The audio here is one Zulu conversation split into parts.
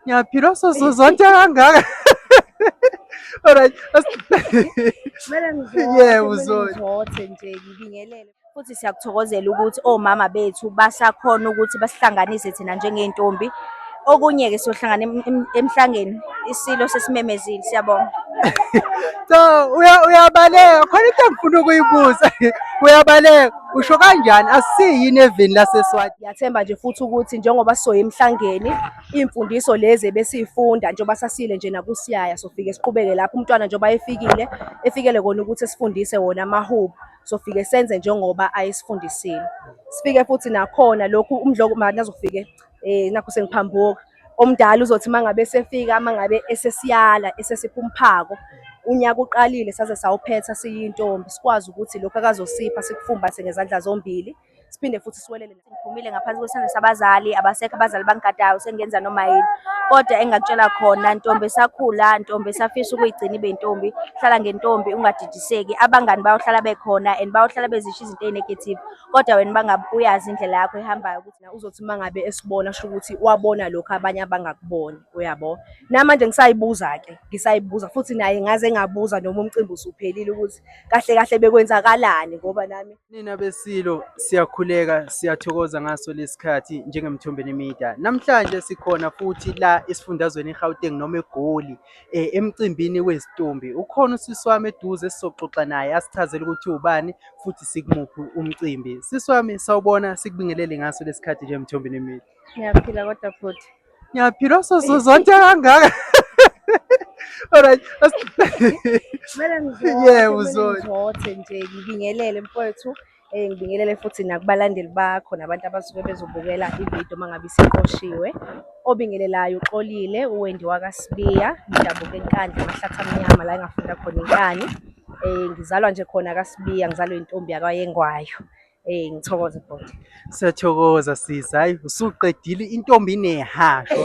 Ngiyaphila soso zonke kangaka. Alright. Kumele ngizothe. Yebo uzothe. Ngizothe nje ngibingelele. Futhi siyakuthokozela ukuthi omama oh, bethu basakhona ukuthi basihlanganise thina njengey'ntombi. Okunye-ke siyohlangana emhlangeni isilo sesimemezile siyabonga. So uyabaleka khona into engifuna ukuyibuza uyabaleka. Usho kanjani asiyi yini evini laseSwati? Ngiyathemba nje futhi ukuthi njengoba sisoya emhlangeni imfundiso lezi ebesifunda njengoba sasile nje nakusiyaya sofike siqhubeke lapho umntwana njengoba efikile efikele kona ukuthi sifundise wona amahubo sofike senze njengoba ayesifundisile. Sifike futhi nakhona lokhu umdloko manje azofike eh nakho sengiphambuka omdala uzothi mangabe esefika mangabe esesiyala esesiphuma umphako unyaka uqalile saze sawuphetha siyintombi sikwazi ukuthi lokho akazosipha sikufumbathe ngezandla zombili siphinde futhi siwelele ngiphumile ngaphansi kwesandla sabazali abasekho abazali bangigadayo sengenza noma yini kodwa engakutshela khona ntombi esakhula ntombi esafisa ukuyigcina ibe ntombi hlala ngentombi ungadidiseki abangani bayohlala bekhona and bayohlala bezisho izinto ezinegative kodwa wena bangabe uyazi indlela yakho ehambayo ukuthi uzothi uma ngabe esibona kusho ukuthi wabona lokho abanye abangakuboni uyabo namanje ngisayibuza-ke ngisayibuza futhi naye ngaze ngabuza noma umcimbi usuphelile ukuthi kahle kahle bekwenzakalani ngoba nami nina besilo siyakhuleka siyathokoza ngaso lesikhathi njengemthombeni media namhlanje sikhona futhi la esifundazweni egauteng noma egoli eh, emcimbini wezitombi ukhona usisi wami eduze esizoxoxa naye asichazele ukuthi ubani futhi sikumuphi umcimbi sisi wami sawubona sikubingelele ngaso lesikhathi nje mthombi nemile ngiyaphila kodwa futhi ngiyaphila osozozonke kangaka Alright. Kumele ngizothe, Yebo, kumele uzothe. ngizothe nje ngibingelele mfowethu Eh, ngibingelele futhi nakubalandeli bakho nabantu abasuke bezobukela ividiyo uma ngabe isiqoshiwe obingelelayo uxolile uwendi wakasibiya ngidabuka enkandla amahlathi amnyama la engafunda khona inkani um ngizalwa nje khona kasibiya ngizalwa intombi yakwayengwayo um ngithokoze bhoti siyathokoza sisi hayi usuqedile intombi inehasho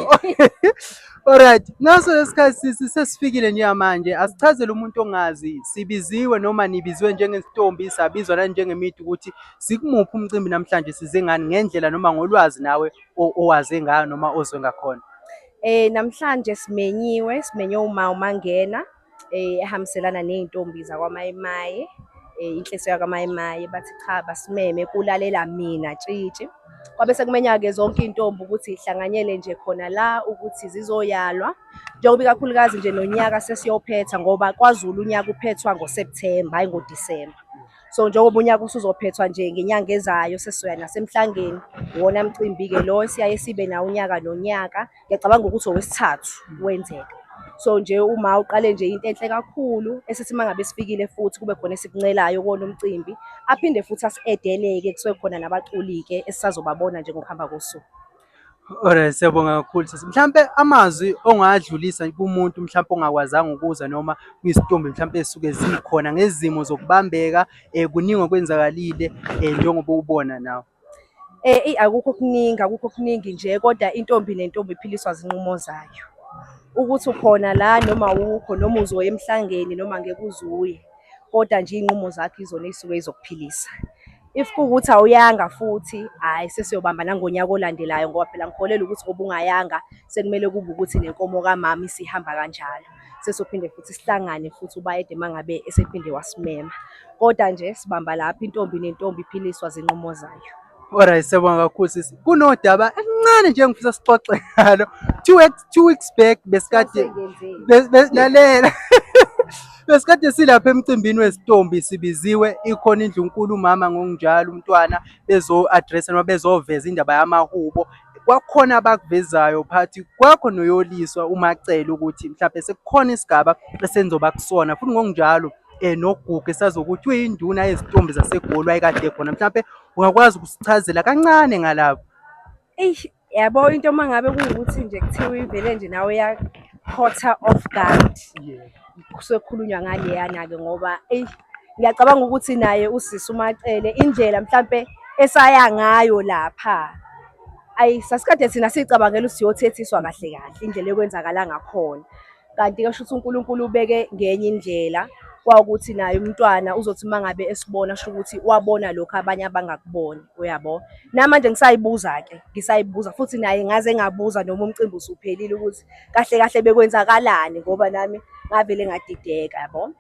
Alright, ngaso lesikhathi sisi sesifikile njengamanje asichazele umuntu ongazi sibiziwe noma nibizwe njengesintombi sabizwa nani njengemithi ukuthi sikumuphi umcimbi namhlanje size ngani ngendlela noma ngolwazi nawe o- owaze ngayo noma ozwe ngakhona. Eh namhlanje simenyiwe, simenywe uma umangena. eh, ehambiselana ney'ntombi zakwamayimaye eh, inhliso yakamayimaye bathi cha basimeme kulalela mina tshitshi kwabe sekumenya-ke zonke iy'ntombi ukuthi hlanganyele nje khona la ukuthi zizoyalwa njengoba ikakhulukazi nje nonyaka sesiyophetha ngoba kwazulu unyaka uphethwa ngosepthemba hhayi ngodisemba so njengoba unyaka usuzophethwa nje ngenyanga ezayo sesizoya nasemhlangeni iwona mcimbi-ke lo esiyaye sibe nawo unyaka nonyaka ngiyacabanga ukuthi owesithathu wenzeka so nje uma uqale nje into enhle kakhulu esithi mangabe sifikile futhi kube khona esikuncelayo kona umcimbi aphinde futhi asiedeleke kusuke khona nabaculi-ke esisazobabona nje ngokuhamba kosuku Alright, siyabonga kakhulu sisi. Mhlampe amazwi ongadlulisa kumuntu mhlampe ongakwazanga ukuza noma kuyisitumbi mhlampe esuke zikhona ngezimo zokubambeka eh kuningi okwenzakalile eh njengoba ubona nawe. Eh, eyi akukho okuningi, akukho okuningi nje kodwa intombi nentombi iphiliswa zinqumo zayo. Ukuthi ukhona la noma awukho, noma uzoya emhlangeni noma ngeke uze uye, kodwa nje iy'nqumo zakho izona ey'suke zizokuphilisa. If kuwukuthi awuyanga futhi, hhayi sesiyobamba nangonyaka olandelayo ngoba phela ngikholelwa ukuthi ngoba ungayanga sekumele kube ukuthi nenkomo kamama isihamba kanjalo. sesophinde futhi sihlangane futhi ubayede mangabe esephinde wasimema kodwa nje sibamba lapha intombi nentombi iphiliswa zinqumo zayo Alright siyabonga kakhulu sisi. Kunodaba elincane nje engifisa sixoxe ngalo. Two weeks two weeks back besikade lalela. Besikade silapha emcimbini wesitombi sibiziwe ikhona indlunkulu umama ngokunjalo umntwana bezo address noma bezoveza indaba yamahubo kwakukhona abakuvezayo phathi kwakho noyoliswa uma acela ukuthi mhlawumbe sekukhona isigaba esenzoba kusona futhi ngokunjalo um nogugu esazokuthi uyinduna yezintombi zasegoli wayekade khona mhlawumbe ungakwazi ukusichazela kancane ngalapho eyi yabo into uma ngabe kuwukuthi nje kuthiwa ivele nje nawe yakhotha off guard kusekhulunywa ngaleyana-ke ngoba eyi ngiyacabanga ukuthi naye usisi umacele indlela mhlampe esaya ngayo lapha ayi sasikade thina siyicabangela ukuthi siyothethiswa kahle kahle indlela ekwenzakala ngakhona kanti ke shuthi uNkulunkulu ubeke ngenye indlela kwawukuthi naye umntwana uzothi mangabe esibona sho ukuthi wabona lokho abanye abangakuboni uyabo namanje ngisayibuza ke ngisayibuza futhi naye ngaze ngabuza noma umcimbi usuphelile ukuthi kahle kahle bekwenzakalani ngoba nami ngavele ngadideka yabo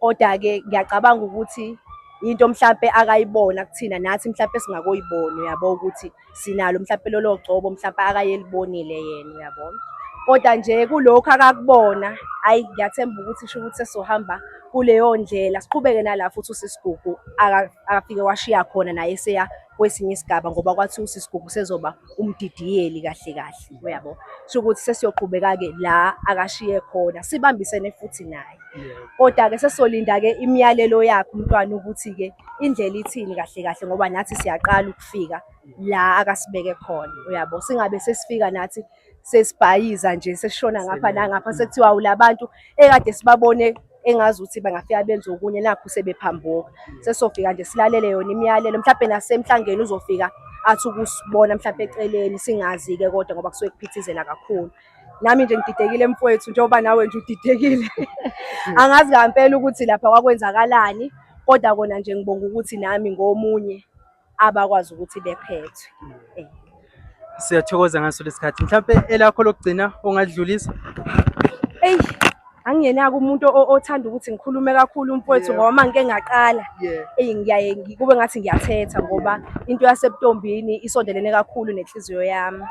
kodwa-ke ngiyacabanga ukuthi into mhlampe akayibona kuthina nathi mhlampe singakoyibona uyabo ukuthi sinalo mhlampe lolo gcobo mhlampe akayelibonile yena uyabo kodwa nje kulokhu akakubona ayi ngiyathemba ukuthi sho ukuthi sesohamba kuleyo ndlela siqhubeke nala futhi usisigugu akafike washiya khona naye seya kwesinye isigaba ngoba kwathi usisigugu sezoba umdidiyeli kahle kahle uyabo sho ukuthi sesiyoqhubeka ke la akashiye khona sibambisene futhi naye kodwa ke sesolinda ke imiyalelo yakhe umntwana ukuthi ke indlela ithini kahle kahle ngoba nathi siyaqala ukufika la akasibeke khona uyabo singabe sesifika nathi sesibhayiza nje sesishona ngapha nangapha sekuthiwa ulabantu ekade sibabone engazi ukuthi bangafika benze okunye nakho sebephambuka sesofika nje silalele yona imiyalelo mhlawumbe nasemhlangeni uzofika athi ukusibona mhlawumbe eceleni singazi-ke kodwa ngoba kusuke kuphithizela kakhulu nami nje ngididekile mfowethu njengoba nawe nje udidekile angazi ngampela ukuthi lapha kwakwenzakalani kodwa kona nje ngibonga ukuthi nami ngomunye abakwazi ukuthi bephethwe eh. siyathokoza ngaso lesikhathi mhlawumbe elakho lokugcina ongadlulisa eyi angingenaka umuntu othanda ukuthi ngikhulume kakhulu umfowethu ngoba uma ngike ngaqala eyi ngiyaye kube ngathi ngiyathetha ngoba into yasebutombini isondelene kakhulu nenhliziyo yami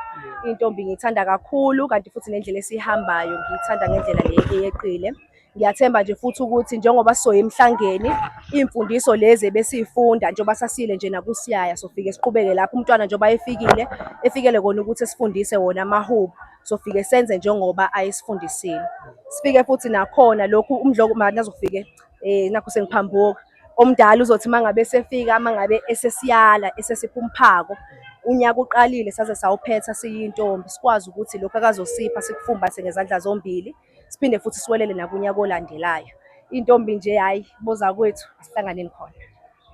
intombi ngiyithanda kakhulu kanti futhi nendlela esiyihambayo ngiyithanda ngendlela le eyeqile Ngiyathemba nje futhi ukuthi njengoba sisoya emhlangeni iy'mfundiso lezi ebesiy'funda njengoba sasile nje nakusiyaya sofike siqhubeke lapho umntwana njengoba efikile efikele kona ukuthi sifundise wona amahubo sofike senze njengoba ayesifundisile sifike futhi nakhona lokhu umdloko manje azofike eh nakho sengiphambuka omdala uzothi mangabe sefika mangabe esesiyala esesiphumphako unyaka uqalile saze sawuphetha siyintombi sikwazi ukuthi lokho akazosipha sikufumbathe ngezandla zombili siphinde futhi siwelele nakunyaka olandelayo. Intombi nje hayi boza kwethu asihlanganeni khona.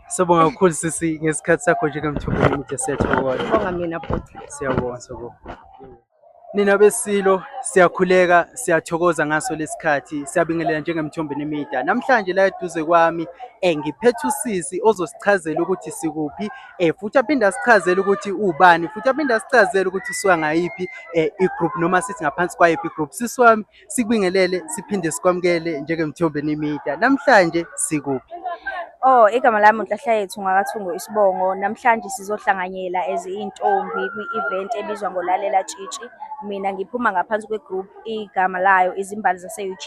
Sibonga kakhulu sisi ngesikhathi sakho njengemthombo omude sethu kodwa. Bonga mina bhuti. Siyabonga siyabonga. Nina besilo siyakhuleka siyathokoza ngaso lesikhathi siyabingelela njengemthombo nemida. Namhlanje la eduze kwami eh ngiphethe usisi ozosichazela ukuthi sikuphi eh futhi aphinde asichazele ukuthi ubani futhi aphinde asichazele ukuthi usuka ngayiphi eh, i-group noma sithi ngaphansi kwayiphi i-group sisi wami sikubingelele siphinde sikwamukele njengemthombeni media namhlanje sikuphi Oh, igama lami uNhlahla yethu ngakathungo isibongo. Namhlanje sizohlanganyela as intombi kwi-event ebizwa ngolalela tshitshi. Mina ngiphuma ngaphansi kwegroup igama layo izimbali zase-UJ.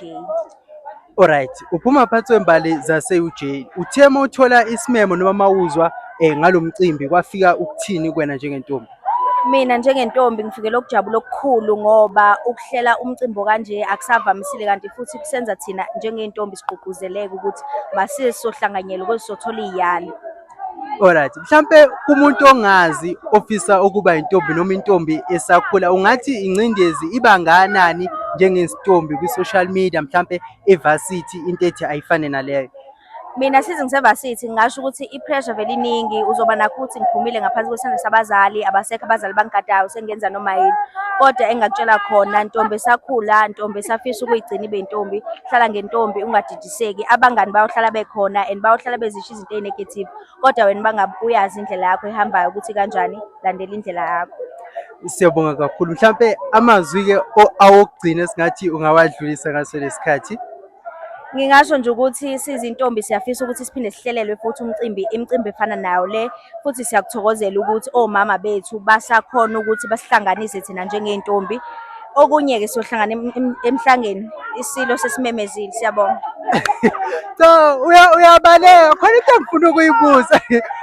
Alright, uphuma phansi wembali zase-UJ. Uthe uma uthola isimemo noma mawuzwa eh ngalo mcimbi kwafika ukuthini kwena njengentombi? Mina njengentombi ngifikele ukujabula okukhulu ngoba ukuhlela umcimbi kanje akusavamisile kanti futhi kusenza thina njengey'ntombi sigqugquzeleke ukuthi masiye sizohlanganyela ukuze sothola iy'yalo. Alright, mhlampe kumuntu ongazi ofisa ukuba intombi noma intombi esakhula ungathi ingcindezi iba nganani njengentombi kwi-social media mhlampe evarsity into ethi ayifane naleyo. Mina size ngisevarsity ngingasho ukuthi i-pressure vele iningi uzoba nakho ukuthi ngiphumile ngaphansi kwesandla sabazali abasekho abazali bangigadayo sengenza noma yini kodwa engakutshela khona ntombi esakhula ntombi esafisa ukuyigcina ibe intombi hlala ngentombi ungadidisi seki abangani bayohlala bekhona and bayohlala bezisho izinto ezinegative kodwa wena bangabe uyazi indlela yakho ehambayo ukuthi kanjani landela indlela yakho siyabonga kakhulu mhlampe amazwi-ke awokugcina esingathi ungawadlulisa ngaso lesikhathi ngingasho nje ukuthi sizintombi siyafisa ukuthi siphinde sihlelelwe futhi umcimbi imicimbi efana nayo le futhi siyakuthokozela ukuthi omama bethu basakhona ukuthi basihlanganise thina njengey'ntombi okunye-ke siyohlangana emhlangeni isilo sesimemezile siyabonga so uyabaleka khona into engifuna ukuyibuza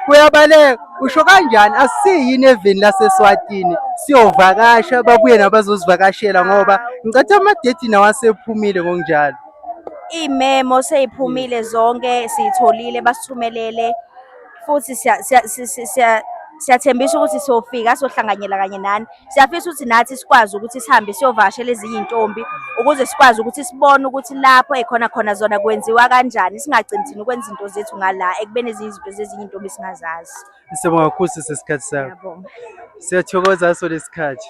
uyabaleka usho kanjani asiyini eveni laseswatini siyovakasha babuye nabazosivakashela ngoba ngicatha amadethi nawo asephumile ngokunjalo iy'memo sey'phumile zonke siyitholile basithumelele futhi siyathembisa ukuthi siyofika sohlanganyela kanye nani siyafisa ukuthi nathi sikwazi ukuthi sihambe siyovakashela ezinye intombi ukuze sikwazi ukuthi sibone ukuthi lapho ekhona khona zona kwenziwa kanjani singagcini thina ukwenza izinto zethu ngala ekubeni ezinye izinto zezinye intombi singazazi Siyabonga kakhulu sesikhathi sakho. Siyathokoza so lesikhathi.